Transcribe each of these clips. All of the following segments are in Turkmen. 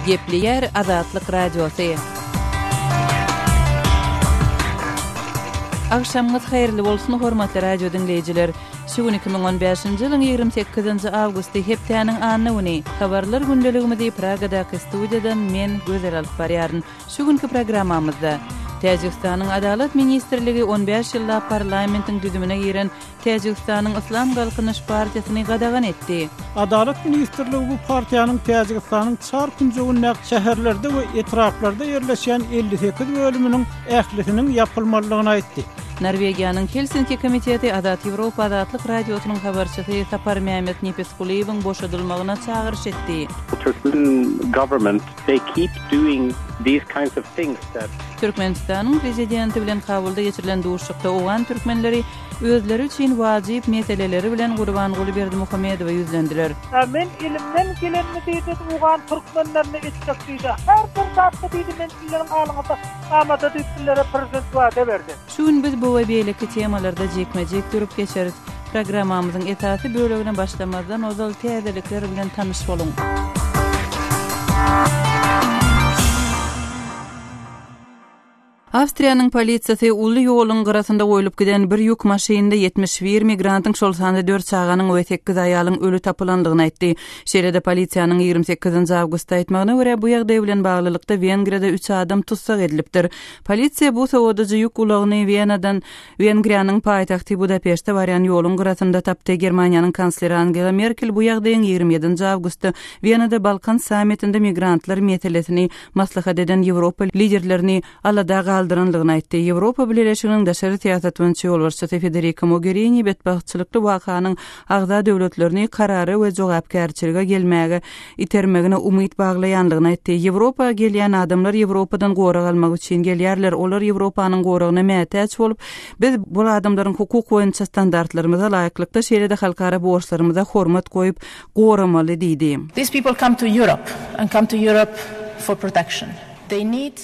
Gepleýär Azatlyk Radiosy. Agşamyňyz haýyrly bolsun hormatly radio diňleýjiler. Şu gün 2015-nji ýylyň 28-nji awgusty hepdäniň anna güni. Habarlar gündeligimizi Pragadaky studiýadan men Gözel alyp barýaryn. Şu günki programmamyzda Täjigistanyň Adalat ministrligi 15 ýyllap parlamentiň düzümine giren Täjigistanyň Yslam galkynyş partiýasyny gadagan etdi. Adalat ministrligi bu partiýanyň Täjigistanyň çar künjegindäki şäherlerde we etraplarda ýerleşýän elli sekiz bölüminiň ählisiniň ýapylmalydygyny aýtdy. Norwegiýanyň Helsinki komiteti Azat Ýewropa Azatlyk Radiosynyň habarçysy Saparmämmet Nepisgulyýewiň boşadylmagyna çagyryş etdi. Türkmen government they keep doing these kinds of things that Türkmenistanyň Prezidenti bilen Kabulda geçirilen duşuşykda owgan türkmenleri özleri üçin wajyp meseleleri bilen Gurbanguly Berdimuhamedowa ýüzlendiler. Ä men elimden gelenini diýdi owgan türkmenlerine etjek diýdi. Her bir zatda diýdi men sizleriň alyňyzda amada diýip sizlere Prezident wada berdi. Şu gün biz bu we beýleki temalarda jikme-jik durup geçeris. Programmamyzyň esasy bölegine başlamazdan ozal täzelikler bilen tanyş boluň. Awstriýanyň polisiýasy uly ýoluň gyrasynda goýlup giden bir ýük maşynynda ýetmiş bir migrantyň, şol sanda dört çaganyň we sekiz aýalyň öli tapylandygyny aýtdy. Şeýle-de polisiýanyň ýigrimi sekizinji awgustda aýtmagyna görä, bu ýagdaý bilen baglylykda Wengriýada üç adam tussag edilipdir. Polisiýa bu sowadyjy ýük ulagyny Wenadan Wengriýanyň paýtagty Budapeşte barýan ýoluň gyrasynda tapdy. Germaniýanyň kansleri Angela Merkel bu ýagdaýyň ýigrimi ýedinji awgustda Wenada Balkan sammitinde migrantlar meselesini maslahat eden Ýewropa liderlerini alada galdyrandygyny aýtdy. Ýewropa Bileleşiginiň daşary syýasat boýunça ýolbaşçysy Federika Mogerini betbagtçylykly wakanyň agza döwletlerini karara we jogapkärçilige gelmäge itermegine umyt baglaýandygyny aýtdy. Ýewropa gelýän adamlar Ýewropadan gorag almak üçin gelýärler. Olar Ýewropanyň goragyna mätäç bolup, biz bul adamlaryň hukuk boýunça standartlarymyza laýyklykda, şeýle-de halkara borçlarymyza hormat goýup, goramaly diýdi. These people come to Europe and come to Europe for protection. They need.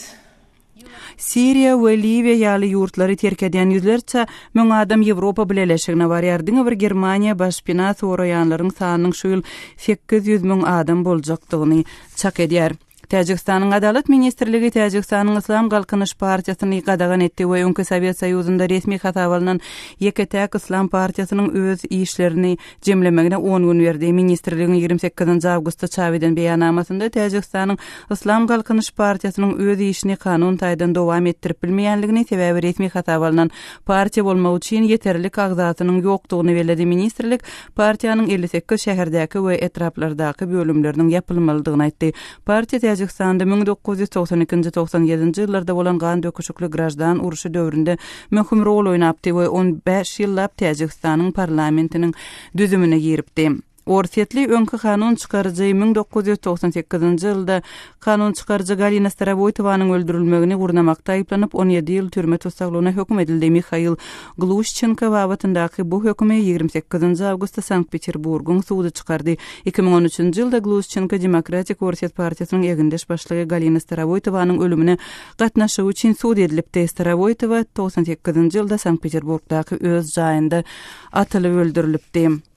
Siriýa we Liwiýa ýaly ýurtlary terk edýän ýüzlerçe müň adam Ýewropa Bileleşigine barýar. Diňe bir Germaniýa baş pina soraýanlaryň sanynyň şu ýyl sekiz ýüz müň adam boljakdygyny çak edýär. Täjigistanyň Adalat ministrligi Täjigistanyň Yslam galkynyş partiýasyny gadagan etdi we öňki Sowet Soýuzynda resmi hasaba alnan ýeke-täk yslam partiýasynyň öz işlerini jemlemegine on gün berdi. Ministrligiň ýigrimi sekizinji awgustda çap eden beýannamasynda Täjigistanyň Yslam galkynyş partiýasynyň öz işini kanun taýdan dowam etdirip bilmeýänligini, sebäbi resmi hasaba alnan partiýa bolmak üçin ýeterlik agzasynyň ýokdugyny belledi. Ministrlik partiýanyň elli sekiz şäherdäki we etraplardaky bölümleriniň ýapylmalydygyny aýtdy. Partiýa Täjigistanda müň dokuz ýüz togsan ikinji, togsan ýedinji ýyllarda bolan gan döküşikli graždan urşy döwründe möhüm rol oýnapdy we on bäş ýyllap Täjigistanyň parlamentiniň düzümine giripdi. Orsýetli öňki kanun çykaryjy müň dokuz ýüz togsan sekizinji ýylda kanun çykaryjy Galina Starowoýtowanyň öldürilmegini gurnamakda aýyplanyp, on ýedi ýyl türme tussaglygyna höküm edildi, Mihail Gluşçenko babatyndaky bu hökümi ýigrimi sekizinji awgustda Sankt-Peterburgyň sudy çykardy. Iki müň on üçünji ýylda Gluşçenko Demokratik Orsýet partiýasynyň egindeş başlygy Galina Starowoýtowanyň ölümine gatnaşygy üçin sud edilipdi. Starowoýtowa togsan sekizinji ýylda Sankt-Peterburgdaky öz jaýynda atylyp öldürilipdi.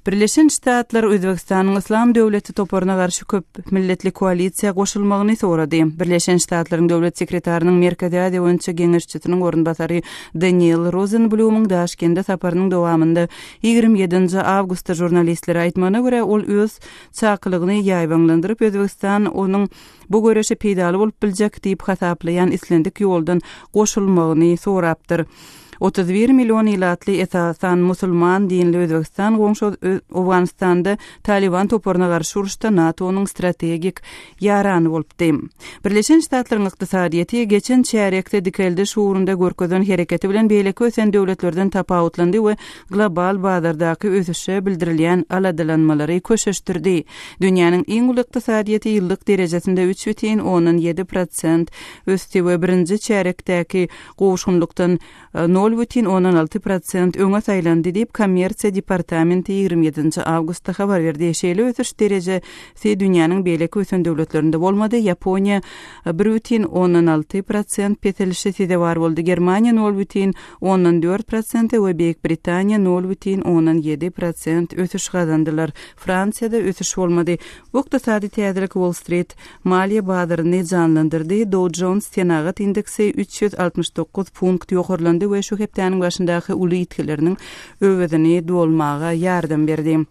Birleşen Ştatlar Özbegistanyň Yslam döwleti toparyna garşy köp milletli koalisiýa goşulmagyny sorady. Birleşen Ştatlaryň Döwlet sekretarynyň Merkezi Aziýa boýunça geňeşçisiniň orunbasary Deniel Rozenblýumyň Daşkende saparynyň dowamynda ýigrimi ýedinji awgustda žurnalistlere aýtmagyna görä, ol öz çakylygyny ýaýbaňlandyryp, Özbegistan onuň bu göreşe peýdaly bolup biljek diýip hasaplaýan islendik ýoldan goşulmagyny sorapdyr. Otuz bir million ilatly esasan musulman dinli Özbegistan goňşy Owganystanda Talyban toparyna garşy uruşda NATO-nyň strategik ýarany bolupdy. Birleşen Ştatlaryň ykdysadyýeti geçen çärýekde dikeldiş ugrunda görkezen hereketi bilen beýleki ösen döwletlerden tapawutlandy we global bazardaky ösüşe bildirilýän aladalanmalary köşeşdirdi. Dünýäniň iň uly ykdysadyýeti ýyllyk derejesinde üç bütin ondan ýedi prosent ösdi we birinji çärýekdäki Goşgunlykdan nol bütin ondan alty prosent öňe saýlandy diýip, Kommersiýa departamenti ýigrimi ýedinji awgustda habar berdi. Şeýle ösüş dereje si dünýäniň beýleki ösen döwletlerinde bolmady, Ýaponiýa bir bütin ondan alty prosent peselişe sezewar boldy, Germaniýa nol bütin ondan dört prosente we Beýik Britaniýa nol bütin ondan ýedi prosent ösüş gazandylar. Fransiýada ösüş bolmady. Bu ykdysady täzelik Wall-Strit Maliýe bazaryny janlandyrdy, Dow Jones senagat indeksi üç ýüz altmyş dokuz punkt ýokarlandy we şu hepdäniň başyndaky uly ýitgileriniň öwezini dolmaga ýardam berdi.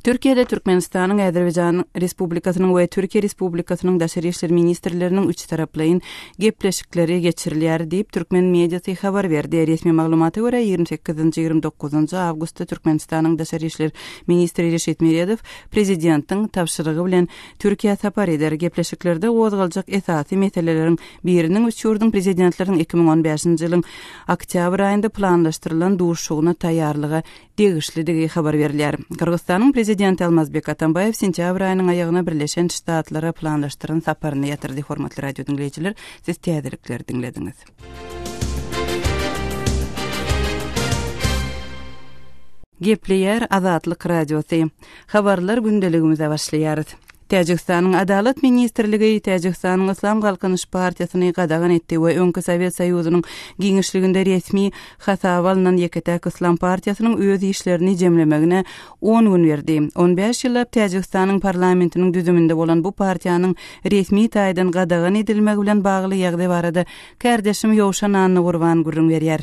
Türkiýede Türkmenistanyň, Azerbaýjan Respublikasynyň we Türkiýe Respublikasynyň daşary işler ministrleriniň üçtaraplaýyn gepleşikleri geçirilýär diýip, türkmen mediasy habar berdi. Resmi maglumata görä, ýigrimi sekizinji, ýigrimi dokuzynjy awgustda Türkmenistanyň daşary işler ministri Reşit Meredow prezidentiň tabşyrygy bilen Türkiýä sapar eder. Gepleşiklerde gozgaljak esasy meseleleriň biriniň üç ýurduň Prezidentleriniň iki müň on bäşinji ýylyň oktýabr aýynda planlaşdyrylan duşuşygyna taýýarlyga degişlidigi habar berilýär. Gyrgyzystanyň Prezidenti Almazbek Atambaýew sentýabr aýynyň aýagyna Birleşen Ştatlara planlaşdyran saparyny ýatyrdy. Hormatly radio diňleýjiler, siz täzelikleri diňlediňiz. Gepleýär Azatlyk Radiosy. Habarlar gündeligimize başlaýarys. Täjigistanyň Adalat ministrligi Täjigistanyň Yslam galkynyş partiýasyny gadagan etdi we öňki Sowet Soýuzynyň giňişliginde resmi hasaba alnan ýeke-täk yslam partiýasynyň öz işlerini jemlemegine On gün berdi. On bäş ýyllap Täjigistanyň parlamentiniň düzüminde bolan bu partiýanyň resmi taýdan gadagan edilmegi bilen bagly ýagdaý barada kärdeşim Ýowşan Annagurban gürrüň berýär.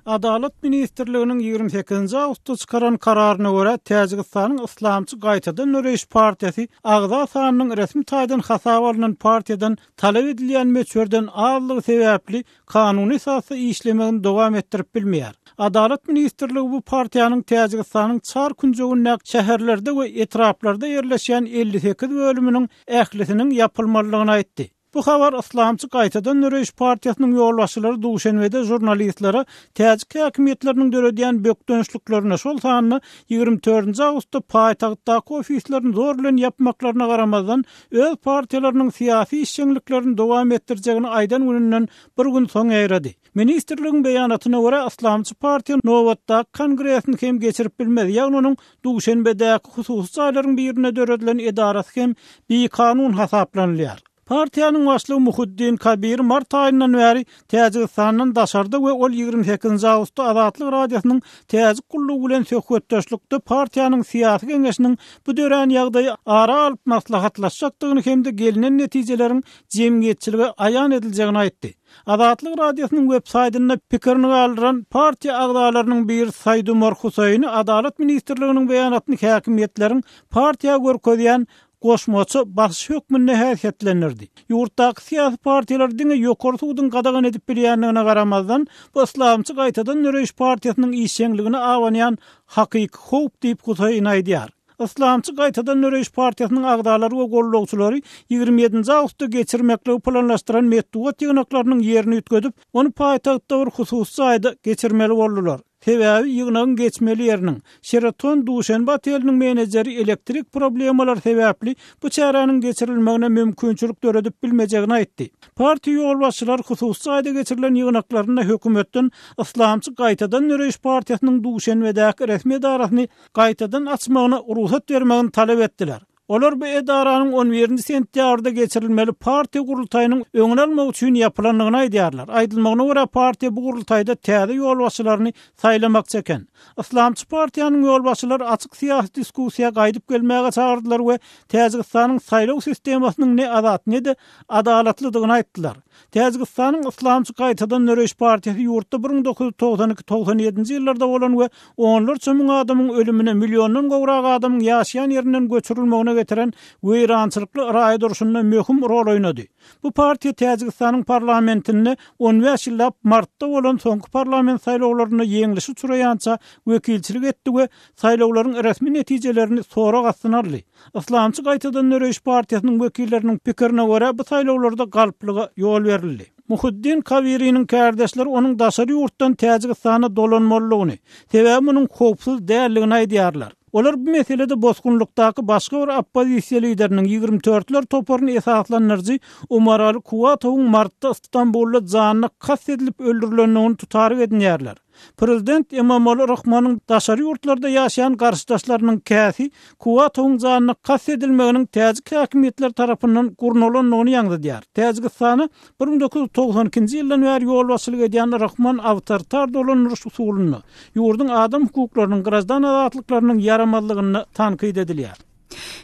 Adalat ministrliginiň ýigrimi sekizinji awgustda çykaran kararyna görä, Täjigistanyň Yslamçy gaýtadan döreýiş partiýasy agza sanynyň resmi taýdan hasaba alnan partiýadan talap edilýän möçberden azlygy sebäpli kanuny esasda işlemegini dowam etdirip bilmeýär. Adalat ministrligi bu partiýanyň Täjigistanyň çar künjegindäki şäherlerde we etraplarda ýerleşýän elli sekiz bölüminiň ählisiniň ýapylmalydygyny aýtdy. Bu habar Yslamçy gaýtadan döreýiş partiýasynyň ýolbaşçylary Duşenbede žurnalistlere täjik häkimiýetleriniň döredýän bökdençliklerine, şol sanda ýigrimi dördünji awgustda paýtagtdaky ofislerini zor bilen ýapmaklaryna garamazdan, öz partiýalarynyň syýasy işjeňliklerini dowam etdirjegini aýdan gününden bir gün soň ýaýrady. Ministrligiň beýanatyna görä, yslamçy partiýa nobatdaky kongresini hem geçirip bilmez, ýagny onuň Duşenbedäki hususy jaýlaryň birinde döredilen edarasy hem bikanun hasaplanylýar. Partiýanyň başlygy Muhiddin Kabir mart aýyndan bäri Täjigistandan daşarda we ol ýigrimi sekizinji awgustda Azatlyk Radiosynyň Täjik gullugy bilen söhbetdeşlikde partiýanyň syýasy geňeşiniň bu dörän ýagdaýy ara alyp maslahatlaşjakdygyny hem-de gelnen netijeleriň jemgyýetçilige aýan ediljegini aýtdy. Azatlyk Radiosynyň websaýtynda pikirini galdyran partiýa agzalarynyň biri Saidumar Husaini Adalat ministrliginiň beýanatyny häkimiýetleriň partiýa görkezýän goşmaça basyş hökmünde häsiýetlendirdi. Ýurtdaky syýasy partiýalar diňe ýokary suduň gadagan edip bilýändigine garamazdan, bu yslamçy gaýtadan döreýiş partiýasynyň işjeňligine abanýan hakyky howp diýip, Huseýn aýdýar. Yslamçy gaýtadan döreýiş partiýasynyň agzalary we goldawçylary ýigrimi ýedinji awgustda geçirmekligi planlaşdyran metbugat ýygnaklarynyň ýerini üýtgedip, ony paýtagtda bir hususy jaýda geçirmeli boldular. Sebäbi ýygnagyň geçmeli ýeriniň, Sheraton Duşenbe oteliniň menejeri elektrik problemalary sebäpli bu çäräniň geçirilmegine mümkinçilik döredip bilmejegini aýtdy. Partiýa ýolbaşçylary hususy jaýda geçirilen ýygnaklarynda hökümetden Yslamçy gaýtadan döreýiş partiýasynyň Duşenbedäki resmi edarasyny gaýtadan açmagyna rugsat bermegini talap etdiler. Olar bu edaranyň on birinji sentýabrda geçirilmeli partiýa gurultaýynyň öňüni almak üçin ýapylandygyny aýdýarlar. Aýdylmagyna görä, partiýa bu gurultaýda täze ýolbaşçylaryny saýlamakçy eken. Yslamçy partiýanyň ýolbaşçylary açyk syýasy diskussiýa gaýdyp gelmäge çagyrdylar we Täjigistanyň saýlaw sistemasynyň ne azat, ne-de adalatlydygyny aýtdylar. Täjigistanyň Yslamçy gaýtadan döreýiş partiýasy ýurtda bir müň dokuz ýüz togsan iki, togsan ýedinji ýyllarda bolan we onlarça müň adamyň ölümine, milliondan gowrak adamyň ýaşaýan ýerinden göçürilmegine getiren weýrançylykly yraýy durşunda möhüm rol oýnady. Bu partiýa Täjigistanyň parlamentinde on bäş ýyllap martda bolan soňky parlament saýlawlarynda ýeňlişi uçraýança wekilçilik etdi we saýlawlaryň resmi netijelerini sorag astyna aldy. Yslamçy gaýtadan döreýiş partiýasynyň wekilleriniň pikirine görä, bu saýlawlarda galplyga ýol berildi. Muhiddin Kawiriniň kärdeşleri onuň daşary ýurtdan Täjigistana dolanmalydygyny, sebäbi munuň howpsuz däldigini aýdýarlar. Olar bu meselede bosgunlykdaky başga bir oppozisiýa lideriniň, ýigrimi törtler toparyny esaslandyryjy Umaraly Kuwatowyň martda Stambulda janyna kast edilip öldürilendigini tutaryk edinýärler. Prezident Emomali Rahmonyň daşary ýurtlarda ýaşaýan garşydaşlarynyň käsi Kuwatowyň janyna kast edilmeginiň täjik häkimiýetleri tarapyndan gurnalandygyny ýaňzydýar. Täjigistana bir müň dokuz ýüz togsan ikinji ýyldan bäri ýolbaşçylyk edýän Rahmon awtoritar dolandyryş usulynda, ýurduň adam hukuklarynyň, graždan azatlyklarynyň ýaramazlygynda tankyt edilýär.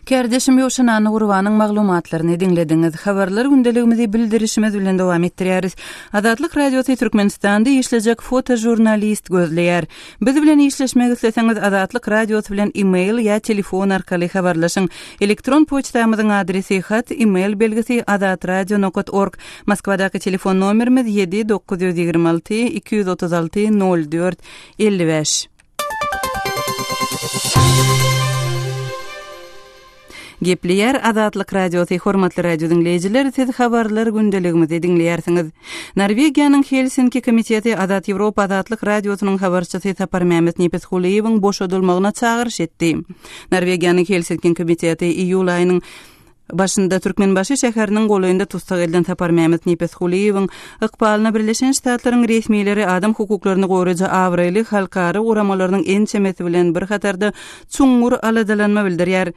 Kärdeşim Ýowşan Annagurbanyň maglumatlaryny diňlediňiz. Habarlar gündeligimizi bildirişimiz bilen dowam etdirýäris. Azatlyk Radiosy Türkmenistanda işlejek fotožurnalist gözleýär. Biz bilen işleşmek isleseňiz Azatlyk Radiosy bilen e-mail ýa telefon arkaly habarlaşyň. Elektron poçtamyzyň adresi hat, e-mail belgisi, azatradio nokat org. Moskwadaky telefon nomerimiz ýedi dokuz ýüz ýigrimi alty iki ýüz otuz alty nol dört elli bäş. Gepleýär Azatlyk Radiosy, hormatly radio diňleýjiler, siz habarlar gündeligimizi diňleýärsiňiz. Norwegiýanyň Helsinki komiteti Azat Ýewropa Azatlyk Radiosynyň habarçysy Saparmämmet Nepisgulyýewiň boşadylmagyna çagyryş etdi. Norwegiýanyň Helsinki komiteti iýul aýynyň Başynda Türkmenbaşy şäheriniň golaýynda tussag edilen Saparmämmet Nepesgulyýewiň ykbalyna Birleşen Ştatlaryň resmileri adam hukuklaryny goraýjy abraýly halkara guramalarynyň ençemesi bilen bir hatarda çuňňur aladalanma bildirýär.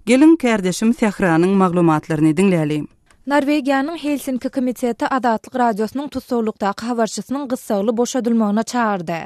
Geliň, kärdeşim Sähranyň maglumatlaryny diňläli. Norwegiýanyň Helsinki komiteti Azatlyk Radiosynyň tussaglykdaky habarçysynyň gyssagly boşadylmagyna çagyrdy.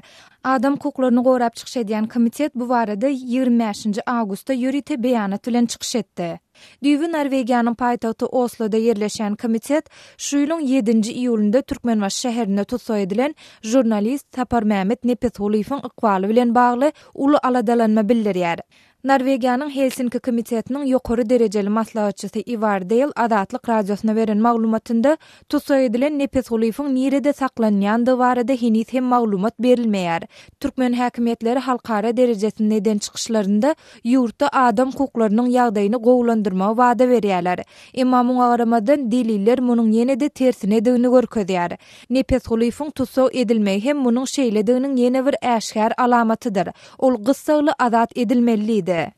Adam hukuklaryny gorap çykyş edýän komitet bu barada ýigrimi bäşinji awgustda ýörite beýanat bilen çykyş etdi. Düýbi Norwegiýanyň paýtagty Osloda ýerleşýän komitet şu ýylyň ýedinji iýulynda Türkmenbaşy şäherinde tussag edilen žurnalist Saparmämmet Nepesgulyýewiň ykbaly bilen bagly uly aladalanma bildirýär. Norwegiýanyň Helsinki komitetiniň ýokary derejeli maslahatçysy Iwar Deýl Azatlyk Radiosyna beren maglumatynda, tussag edilen nepesgulyfyň nirede saklanýandygy barada heniz hem maglumat berilmeýär. Türkmen häkimiýetleri halkara derejesinde eden çykyşlarynda ýurtda adam hukuklarynyň ýagdaýyny gowulandyrmagy wada berýärler. Emma muňa garamazdan, deliller munuň ýene-de tersinedigini görkezýär. Nepesgulyfyň tussag edilmegi hem munuň şeýlediginiň ýene bir äşgär alamatydyr. Ol gyssagly azat edilmelidi.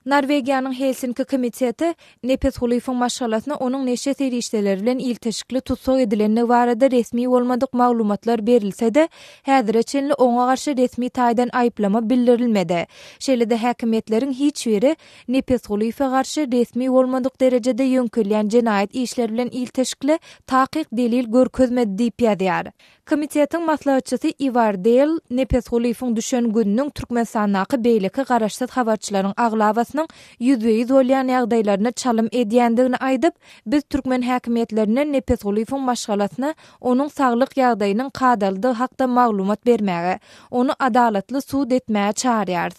Norwegiýanyň Helsinki komiteti Nepes Hulyfyň maşgalasyna onuň neşe serişdeleri bilen ilteşikli tussag edilendigi barada resmi bolmadyk maglumatlar berilse-de, häzire çenli oňa garşy resmi taýdan aýyplama bildirilmedi. Şeýle-de häkimiýetleriň hiç biri Nepesgulyýewe garşy resmi bolmadyk derejede ýöňkelýän jenaýat işleri bilen ilteşikli takyk delil görkezmedi diýip ýazýar. Komitetiň maslahatçysy Iwar Deýl Nepesgulyýewiň düşen gününiň Türkmenistandaky beýleki garaşsyz habarçylaryň aglabasynyň ýüzbe-ýüz bolýan ýagdaýlaryna çalym edýändigini aýdyp, Biz türkmen häkimiýetlerinden Nepesgulyýewiň maşgalasyna onuň saglyk ýagdaýynyň kadalydygy hakda maglumat bermäge, ony adalatly sud etmäge çagyrýarys.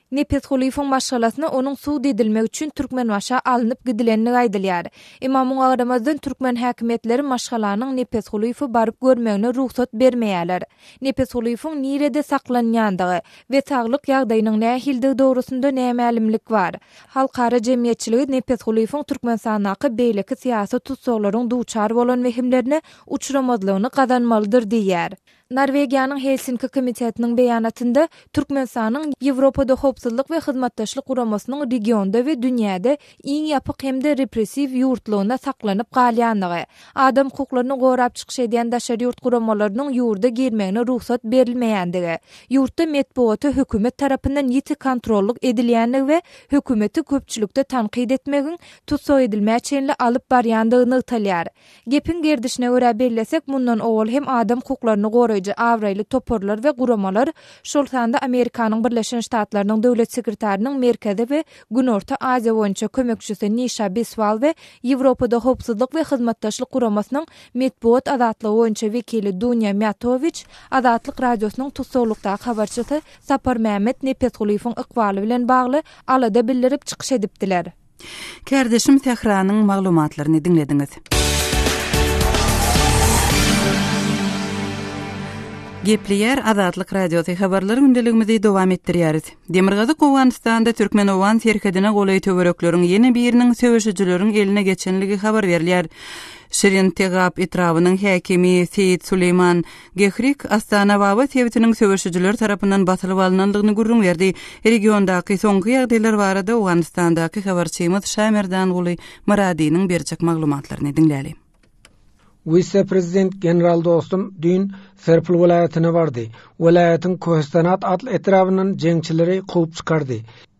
Nepesgulyýewiň maşgalasyna onuň sud edilmegi üçin Türkmenbaşa alnyp gidilendigi aýdylýar. Emma muňa garamazdan türkmen häkimiýetleri maşgalanyň Nepesgulyýewe baryp görmegine rugsat bermeýärler. Nepesgulyýewiň nirede saklanýandygy we saglyk ýagdaýynyň nähilidigi dogrusynda nämälimlik bar. Halkara jemgyýetçiligi Nepesgulyýewiň Türkmenistandaky beýleki syýasy tussaglaryň duçar bolan wehimlerine uçramazlygyny gazanmalydyr diýýär. Norwegiýanyň Helsinki komitetiniň beýanatynda Türkmenistanyň Ýewropada Howpsuzlyk we Hyzmatdaşlyk Guramasynyň regionda we dünýäde iň ýapyk hem-de repressiw ýurtlygyna saklanyp galýandygy, adam hukuklaryny gorap çykyş edýän daşary ýurt guramalarynyň ýurda girmegine rugsat berilmeýändigi, ýurtda metbugata hökümet tarapyndan ýiti kontrollyk edilýändigi we hökümeti köpçülikde tankyt etmegiň tussag edilmä çenli alyp barýandygy nygtalýar. Gepiň gerdişine görä bellesek, mundan owal hem adam hukuklaryny goraýjy abraýly toparlar we guramalar, şol sanda Amerikanyň Birleşen Ştatlarynyň Döwlet sekretarynyň Merkezi we Günorta Aziýa boýunça kömekçisi Nişa Biswal we Ýewropada Howpsuzlyk we Hyzmatdaşlyk Guramasynyň metbugat azatlygy boýunça wekili Dunýa Mýatowiç Azatlyk Radiosynyň tussaglykdaky habarçysy Saparmämmet Nepesgulyýewiň ykbaly bilen bagly alada bildirip çykyş edipdiler. Kärdeşim Sähranyň maglumatlaryny diňlediňiz. Gepleýär Azatlyk Radiosy habarlar gündeligimizi dowam etdirýäris. Demirgazyk Owganystanda türkmen-owgan serhedine golaý töwerekleriň ýene biriniň söweşijileriň eline geçenligi habar berilýär. Şirintegap etrabynyň häkimi Seýit Suleýman Gehrik, Astanababa sebitiniň söweşijiler tarapyndan basylyp alnandygyny gürrüň berdi. Regiondaky soňky ýagdaýlar barada Owganystandaky habarçymyz Şamerdanguly Myradynyň berjek maglumatlaryny diňläli. Wise-prezident general Dostum düýn Serpil welaýatyna bardy. Welaýatyň Kohistanat atly etrabyndan jeňçileri kowup çykardy.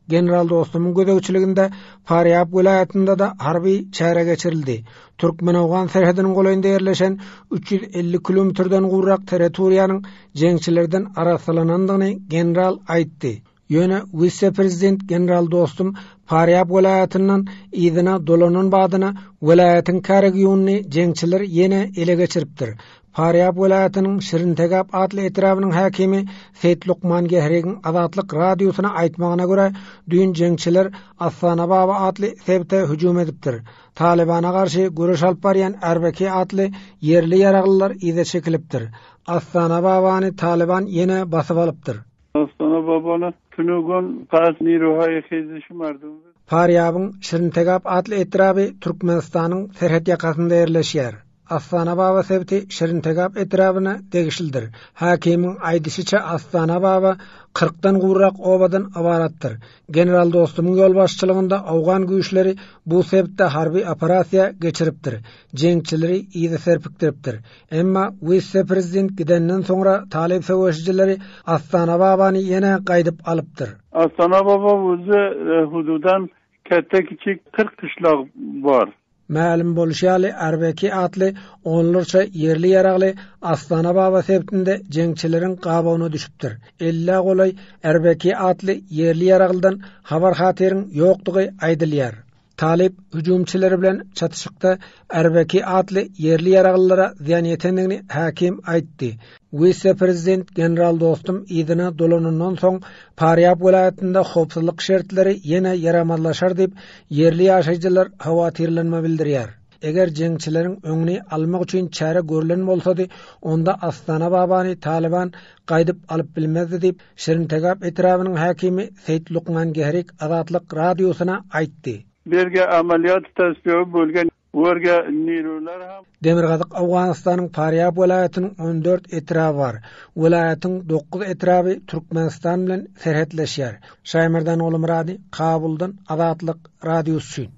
General Dostumyň gözegçiliginde Farýap welaýatynda-da harby çäre geçirildi. Türkmen-owgan serhediniň golaýynda ýerleşen üç ýüz elli kilometrden gowrak territoriýanyň jeňçilerden arassalanandygyny general aýtdy. Ýöne wise-prezident general Dostum Farýap welaýatyndan yzyna dolanan badyna welaýatyň käregiýonyny jeňçiler ýene ele geçiripdir. Farýap welaýatynyň Şirintegap atly etrabynyň häkimi Seýit Lukman Gehrigiň Azatlyk Radiosyna aýtmagyna görä, düýn jeňçiler Astana Baba atly sebite hüjüm edipdir. Talybana garşy göreş alyp barýan Ärbeki atly ýerli ýaraglylar yza çekilipdir. Astana Babany Talyban ýene basyp alypdyr. Dostana babana tünegon has nirohaýa hejdişi mardum. Parýabyň Şirintegap atly etraby Türkmenistanyň serhet ýakasynda ýerleşýär. Astanababa sebiti Şirintegap etrabyna degişlidir. Hakimiň aýdyşyça Astanababa kyrkdan gowrak obadan ybaratdyr. General Dostumyň ýolbaşçylygynda owgan güýçleri bu sebitde harby operasiýa geçiripdir, jeňçileri yza serpikdiripdir. Emma wise-prezident gidenden soňra talyp söweşijilari Astana Babany ýene gaýdyp alypdyr. Astana Baba wise hususan käte-kiçik kyrk gyşlag bar. Mälim bolşy ýaly, Arbeki atly onlarça ýerli-ýaragly Astana Baba sebtinde jeňçileriň gabawyna düşüpdir. Ellä golaý Arbeki atly ýerli-ýaraglydan habar-hatyryň ýokdugy aýdylýar. Talyp hüjümçileri bilen çatyşykda Erbeki atly ýerli ýaraglylara zyýan ýetendigini häkim aýtdy. Wise-prezident general Dostum yzyna dolanandan soň, Parýab welaýatynda howpsuzlyk şertleri ýene ýaramazlaşar diýip, ýerli ýaşaýjylar howatyrlanma bildirýär. Eger jeňçileriň öňüni almak üçin çäre görülen bolsady, onda Astana Babany Talyban gaýdyp alyp bilmezdi diýip, Şirintegap etrabynyň häkimi Seýit Lukman Gehrik Azatlyk Radiosyna aýtdy. Birge amalýat tassygy bolgan Gorga Nirular hem. Demirgazyk Owganystanyň Parýab welaýatynyň on dört etraby bar. Welaýatyň dokuz etraby Türkmenistan bilen serhetleşýär. Şaýmardan Gulumyrady, Kabuldan, Azatlyk Radiosy üçin.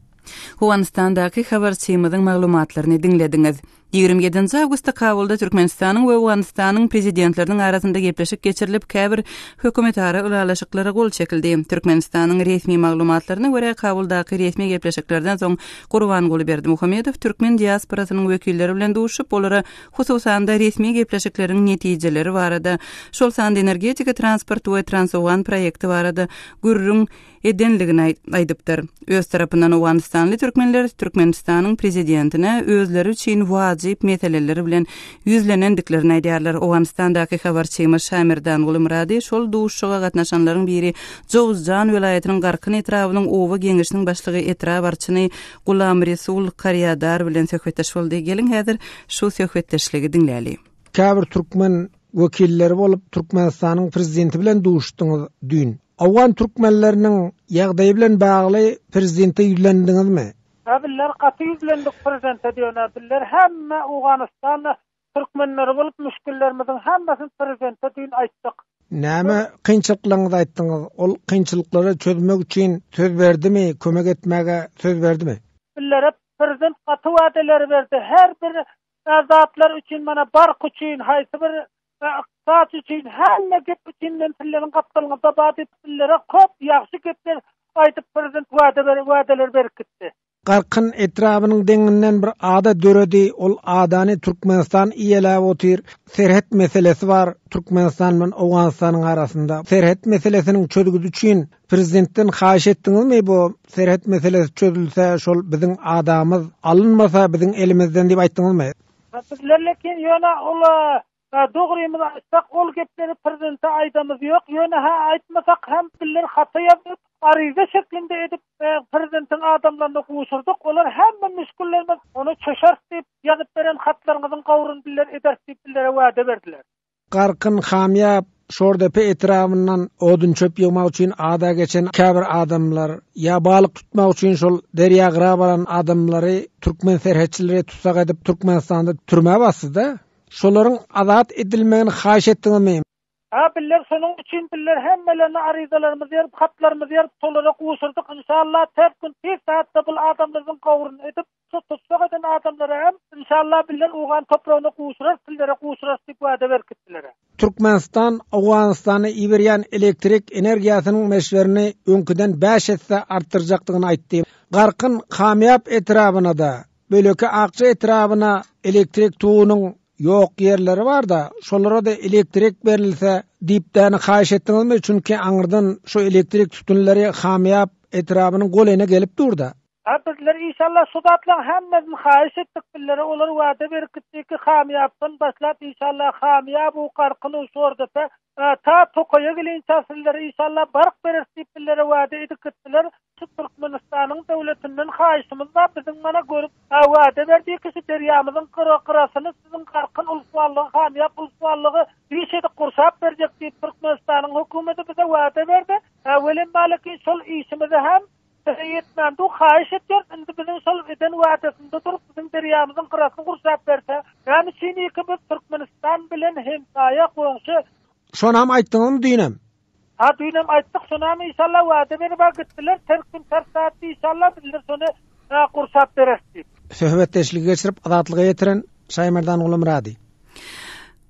Owganystandaky habarçymyzyň maglumatlaryny diňlediňiz. Ýigrimi ýedinji awgustda Kabulda Türkmenistanyň we Owganystanyň Prezidentleriniň arasynda gepleşik geçirilip, käbir hökümetara ylalaşyklara gol çekildi. Türkmenistanyň resmi maglumatlaryna görä, Kabuldaky resmi gepleşiklerden soň Gurbanguly Berdimuhamedow türkmen diasporasynyň wekilleri bilen duşup, olara hususan-da resmi gepleşikleriň netijeleri barada, şol sanda energetika, transport we Transowgan proýekti barada gürrüň edendigini aýdypdyr. Öz tarapyndan owganystanly türkmenler Türkmenistanyň prezidentine özleri üçin wajyp meseleler bilen ýüzlenendiklerini aýdýarlar. Owganystandaky habarçymyz Şamerdan Gulymyrady şol duşuşyga gatnaşanlaryň biri Jowuzjan welaýatynyň Garkyn etrabynyň oba geňeşiniň başlygy etrap arçyny Gulamresul Karýadar bilen söhbetdeş boldy. Geliň häzir şu söhbetdeşligi diňläli. Käbir türkmen wekilleri bolup Türkmenistanyň prezidenti bilen duşuşdyňyz düýn. Owgan türkmenleriniň ýagdaýy bilen bagly prezidente ýüzlendiňizmi? Hä bizler gaty ýüzlendik prezidente diýone bizler hemme Owganystanda türkmenleri bolup müşgillerimiziň hemmesini prezidente düýn aýtdyk. Näme kynçylyklaryňyzy aýtdyňyz? Ol kynçylyklary çözmek üçin söz berdimi, kömek etmäge söz berdimi? Bizlere prezident gaty wadaleri berdi, her bir zatlar üçin mana bark üçin haýsy bir we ykdysat üçin hemme gep üçin men sizleriň gapdalyňyzda bar diýip sizlere köp ýagşy gepler aýdyp prezident wada beren wadalar berkitdi. Garkyn etrabynyň deňinden bir ada döredi, ol adany Türkmenistan iýeläp otyr, serhet meselesi bar, Türkmenistan bilen Owganystanyň arasynda serhet meselesiniň çözgüdi üçin prezidentden haýyş etdiňizmi bu serhet meselesi çözülse şol biziň adamyz alynmasa biziň elimizden diýip aýtdyňyzmy? Biz Lellekin ýöne ula dogrymyzy aýtsak ol gepleri prezidente aýdamyz ýok ýöne hä aýtmasak hem diller hata ýazyp aryza şeklinde edip prezidentiň adamlaryna gowşurdyk olar hemme müşgillerimiz ony çöşeris diýip ýazyp beren hatlaryňyzyň gowrun diller ederis diýip dillere wäde berdiler. Garkyn Hamýap, Şordepe etrabyndan odun-çöp ýygmak üçin ada geçen käbir adamlar, ýa balyk tutmak üçin şol derýa gyra baran adamlary türkmen serhetçileri tussag edip Türkmenistanda türmä basdy-da. Şolaryň azat edilmegini haýyş etdiňizmi? A biller şonuň üçin biller hemmelerine aryzalarymyzy ýazyp, hatlarymyzy ýazyp, şolara gowşurdyk. Inşallah, ters gün, tiz saatda bul adamlarymyzyň gowruny edip, Şo tussag eden adamlara hem Inşallah bizler Owgan topragyna gowşurarys sizlere gowşurarys diýip wada berkitdiler. Türkmenistan Owganystana iberýän elektrik energiýasynyň meşberini öňküden bäş esse artdyrjakdygyny aýtdy. Garkyn Kamýap etrabyna-da, Böleke Akja etrabyna elektrik tugunyň ýok ýerleri bar-da, şolara-da elektrik berilse diýipdäni haýyş etdiňizmi, çünki aňyrdan şu elektrik sütünleri Kamýap etrabynyň golayna gelip dur-da. A bizler işallah şu zatlaň hemmesini haýyş etdik billere olar wada berip gitdi ki hamyýapdan başlap işallah hamyýap u garkyn u şordepe a ta tokaýa gelinçä sizlere işallah bark bereris diýip billere wada edip gitdiler şu türkmenistanyň döwletinden haýyşymyz bar biziň mana görüp a wada berdi ki şu derýamyzyň gyra gyrasyny siziň garkyn ulswanlygy hamyýap ulswanlygy iş edip gurşap berjek diýip türkmenistanyň hökümeti bize wada berdi a welin balekin şol işimizi hem Size ýetmändigu haýyş etýäris, indi biziň şol eden wädesinde durup, biziň derýamyzyň gyrasyny gurşap berse, näme üçin iki biz Türkmenistan bilen hemsaýa, goňşy. Şonam aýtdyňyzmy düýnem? Ha düýnem aýtdyk, şonam inşallah wäde beribä gitdiler, ters gün ters saatda inşallah bizler şony ha gurşap bereris diýip. Söhbetdeşligi geçirip, Azatlyga ýetiren Şaýmerdan Gulumyrady.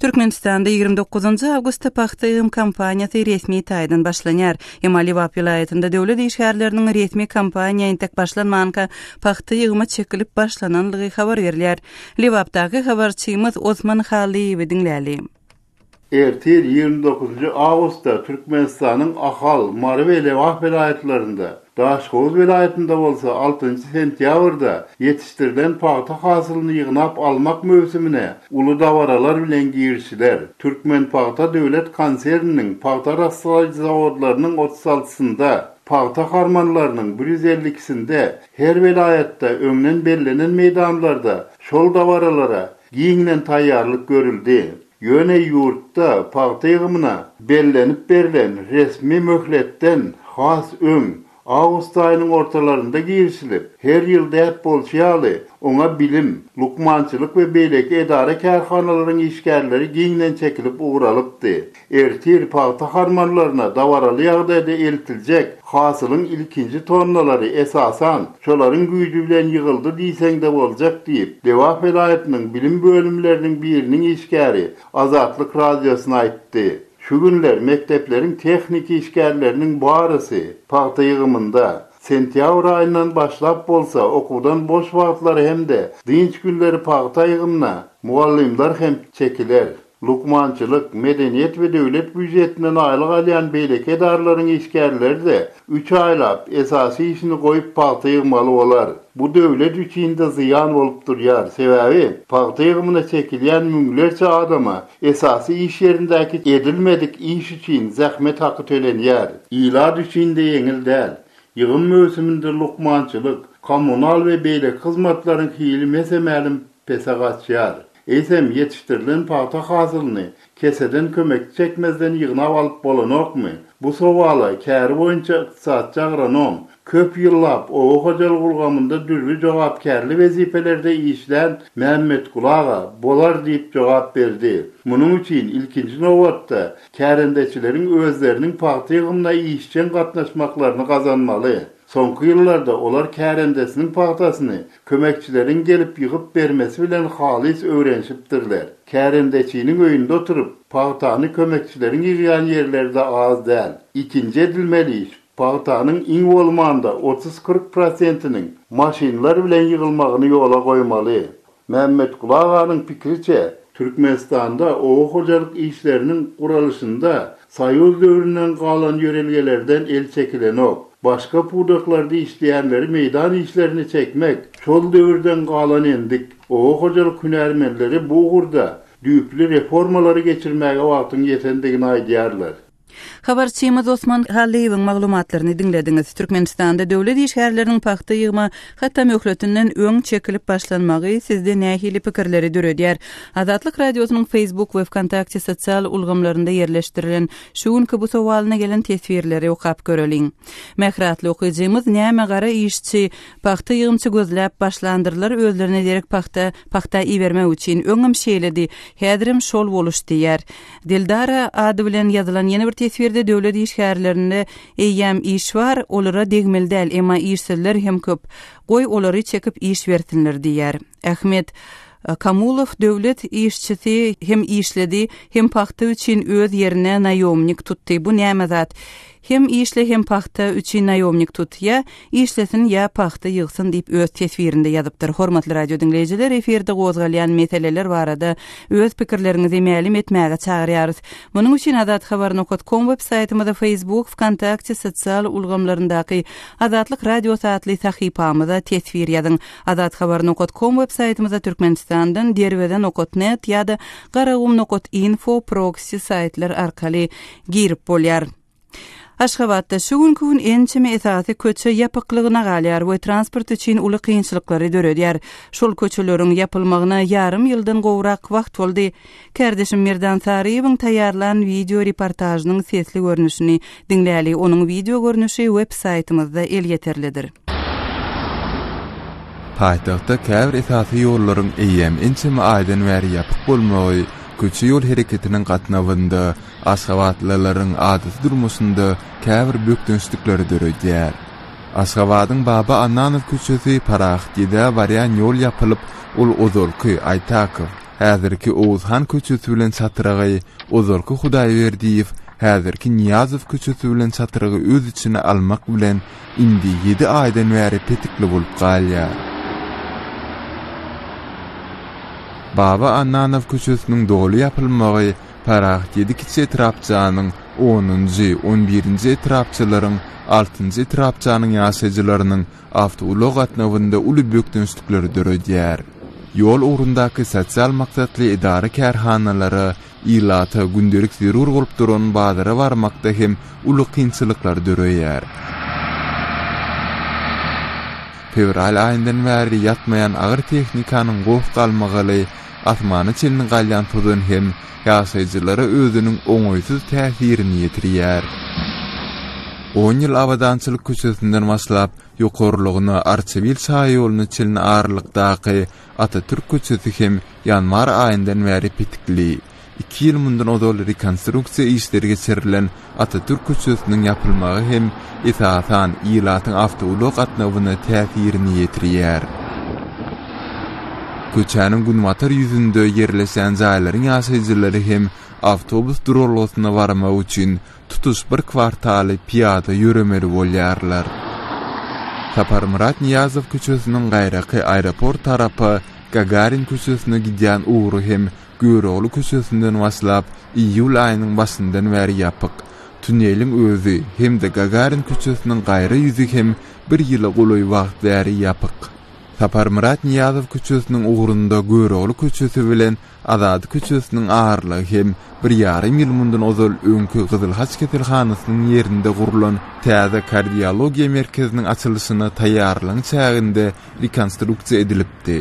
Türkmenistanda ýigrimi dokuzynjy awgustda Pagta ýygym kampaniýasy resmi taýdan başlanýar. Emma Lebap welaýatynda döwlet işgärleriniň resmi kampaniýa entek başlanmanka pagta ýygyma çekilip başlananlygy habar berilýär. Lebapdaky habarçymyz Osman Hallyýewi diňläli. Ertir, ýigrimi dokuzynjy awgustda Türkmenistanyň Ahal, Mary we Lebap welaýatlarynda Daşoguz welaýatynda bolsa altynjy sentýabrda ýetişdirilen pagta hasylyny ýygnap almak möwsümine uly dabaralar bilen girişiler. Türkmenpagta döwlet konserniniň pagta arassalaýjy zawodlarynyň otuz altysynda, pagta harmanlarynyň bir ýüz elli ikisinde, her welaýatda öňden bellenen meýdanlarda şol dabaralara giňden taýýarlyk görüldi. Ýöne ýurtda pagta ýygymyna bellenip berlen resmi möhletden has öň, awgust aýynyň ortalarynda girişilip, her ýyl däp bolşy ýaly, oňa bilim, lukmançylyk we beýleki edara-kärhanalaryň işgärleri giňden çekilip ugralypdy. Ertir pagta harmanlaryna dabaraly ýagdaýda eltiljek hasylyň ilkinji tonnalary, esasan, Şolaryň güýji bilen ýygyldy diýseň-de boljak diýip, Lebap welaýatynyň bilim bölümleriniň biriniň işgäri Azatlyk Radiosyna aýtdy. Şu günler mekdepleriň tehniki işgärleriniň barysy pagta ýygymynda. Sentýabr aýyndan başlap bolsa okuwdan boş wagtlary hem-de dynç günleri pagta ýygymyna mugallymlar hem çekiler. Lukmançylyk, medeniýet we döwlet býujetinden aýlyk alýan beýleki edaralaryň işgärleri-de üç aýlap, esasy işini goýup pagta ýygmaly bolar. Bu döwlet üçin-de zyýan bolup durýar, sebäbi pagta ýygymyna çekilýän müňlerçe adama esasy iş ýerindäki edilmedik iş üçin zähmet haky tölenýär. Ilat üçin-de ýeňil däl. Ýygym möwsüminde lukmançylyk, kommunal we beýleki hyzmatlaryň hili mese-mälim pese gaçýar. Eýsem, ýetişdirilen pagta hasylyny keseden kömekçi çekmezden ýygnap alyp bolanokmy? Bu sowala käri boýunça ykdysatçy agronom, köp ýyllap oba hojalygy ulgamynda dürli jogapkärli wezipelerde işlän Mämmetguly aga bolar diýip jogap berdi. Munuň üçin, ilkinji nobatda, kärendeçileriň özleriniň pagta ýygymyna işjeň gatnaşmaklaryny gazanmaly. Soňky ýyllarda olar kärendesiniň pagtasyny Kömekçileriň gelip ýygyp bermesi bilen halys öwrenişipdirler. Kärendeçiniň öýünde oturyp, pagtany kömekçileriň ýygýan ýerleri-de az däl. Ikinji edilmeli iş, pagtanyň iň bolmanda otuz-kyrk prosentiniň maşynlar bilen ýygylmagyny ýola goýmaly. Mämmetguly aganyň pikiriçe, Türkmenistanda oba hojalyk işleriniň guralyşynda Soýuz döwründen galan ýörelgelerden el çekilenok. Başga pudaklarda işleýänleri meýdan işlerine çekmek, şol döwürden galan endik. Oba hojalyk hünärmenleri bu ugurda düýpli reformalary geçirmäge wagtyň ýetendigini aýdýarlar. Habarçymyz Osman Hallyýewiň maglumatlaryny diňlediňiz. Türkmenistanda döwlet işgärleriniň pagta ýygma Hatda möhletinden öň çekilip başlanmagy sizde nähili pikirleri döredýär? Azatlyk Radiosynyň Facebook we Wkontakte sosial ulgamlarynda ýerleşdirilen şu günki bu sowalyna gelen teswirleri okap göreliň. Mähri atly okyjymyz näme gara işçi, pagta ýygymçy gözläp başlandyrlar özlerine derek pagta, pagta ibermek üçin, öňem şeýledi, häzirem şol boluş diýýär. Dildara ady bilen ýazylan ýene bir teswirde döwlet işgärlerinde Eýýäm iş bar, olara degmeli däl, emma işsizler hem köp. Goý, olary çekip iş bersinler diýýär. Ahmet Kamulow döwlet işçisi hem işledi, hem pagta üçin öz ýerine naýomnik tutdy. Bu näme zat? Hem işle, hem pagta üçin naýomnik tut. Ýa işlesin ýa pagta ýygsyn diýip öz teswirinde ýazypdyr. Hormatly radio diňleýjiler efirde gozgalýan meseleler barada öz pikirleriňizi mälim etmäge çagyrýarys. Munuň üçin azat habar nokat kom web saýtymyza Facebook, Wkontakte sosial ulgamlaryndaky Azatlyk radiosy atly sahypamyza teswir ýazyň. Azat habar nokat kom web saýtymyza Türkmenistandan Derweze nokat net ýa-da Garagum nokat info proksi saýtlar arkaly girip bolýar. Aşgabatda şu günki gün ençeme esasy köçe ýapyklygyna galýar we transport üçin uly kynçylyklary döredýär. Şol köçeleriň ýapylmagyna ýarym ýyldan gowrak wagt boldy. Kärdeşim Merdan Saryýewiň taýýarlan wideo reportažynyň sesli görnüşini diňläli, onuň wideo görnüşi web saýtymyzda elýeterlidir. Paýtagtda käbir esasy ýollaryň eýýäm ençeme aýdan bäri ýapyk bolmagy köçe-ýol hereketiniň gatnawynda Aşgabatlylaryň adaty durmuşynda käbir bökdençlikler döredýär. Aşgabadyň Baba Annanow köçesi Parahat Gedä barýan ýol ýapylyp, ol ozalky, Aýtakow, häzirki Oguzhan köçesi bilen çatrygy, ozalky Hudaýberdiýew, häzirki Nyýazow köçesi bilen çatrygy öz içine almak bilen, indi ýedi aýdan bäri petikli bolup galýar. Baba Annanow köçesiniň doly ýapylmagy, Parahat ýedi kiçi etrapçanyň, onunjy, on birinji etrapçalaryň, altynjy etrapçanyň ýaşaýjylarynyň awtoulag gatnawynda uly bökdençlikleri döredýär. Ýol ugrundaky sosial maksatly edara-kärhanalara, ilata gündelik zerur bolup duran bazara barmakda hem uly kynçylyklar döreýär. Fewral aýyndan bäri ýatmaýan agyr tehnikanyň goh-galmagaly, asmana çenli galýan tozan hem ýaşaýjylara özüniň oňaýsyz täsirini ýetirýär. On ýyl Abadançylyk köçesinden başlap, ýokarlygyna Arçabil şaýoluna çenli aralykdaky Atatürk köçesi hem ýanwar aýyndan bäri petikli. Iki ýyl mundan ozal rekonstruksiýa işleri geçirilen Atatürk köçesiniň ýapylmagy hem, esasan, ilatyň awtoulag gatnawyna täsirini ýetirýär. Köçäniň günbatar ýüzünde ýerleşen jaýlaryň ýaşaýjylary hem awtobus duralgasyna barmak üçin tutuş bir kwartaly pyýada ýöremeli bolýarlar. Saparmyrat Nyýazow köçesiniň gaýraky aeroport tarapa, Gagarin köçesine gidýän ugry hem Görogly köçesinden başlap, iýul aýynyň başyndan bäri ýapyk. Tuneliň özi hem-de Gagarin köçesiniň gaýra ýüzi hem bir ýyla golaý wagt bäri ýapyk. Saparmyrat Nyýazow köçesiniň ugrunda Görogly köçesi bilen Azady köçesiniň aralygy hem bir ýarym ýyl mundan ozal öňki Gyzyl Haç keselhanasynyň ýerinde gurlan täze kardiologiýa merkeziniň açylyşyna taýýarlygyň çäginde rekonstruksiýa edilipdi.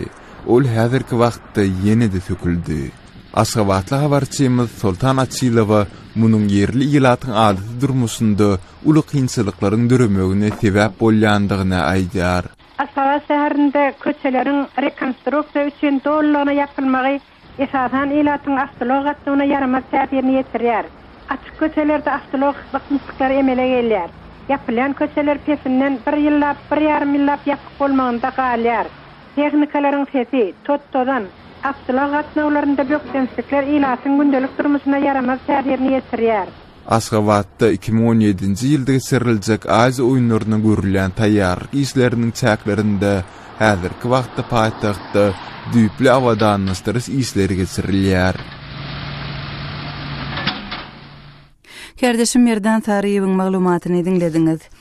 Ol häzirki wagtda ýene-de söküldi. Aşgabatly habarçymyz Soltan Açylowa munuň ýerli ilatyň adaty durmuşynda uly kynçylyklaryň döremegine sebäp bolýandygyny aýdýar. Aşgabat şäherinde köçeleriň rekonstruksiýa üçin dolulygyna ýapylmagy esasan, ilatyň awtoulag gatnawyna ýaramaz täsirini ýetirýär. Açyk köçelerde awtoulag gysmyşlyklary emele gelýär. Ýapylýan köçeler pesinden bir ýyllap, bir ýarym ýyllap ýapyk bolmagynda galýar. Tehnikalaryň sesi, tot-tozan, awtoulag gatnawlarynda bökdençlikler ilatyň gündelik durmuşyna ýaramaz täsirini ýetirýär. Aşgabatda iki müň on ýedinji ýylda geçiriljek Aziýa oýunlaryna görülýän taýýarlyk işleriniň çäklerinde häzirki wagtda paýtagtda düýpli abadanlaşdyryş işleri geçirilýär. Kärdeşim Merdan Saryýewiň maglumatyny diňlediňiz.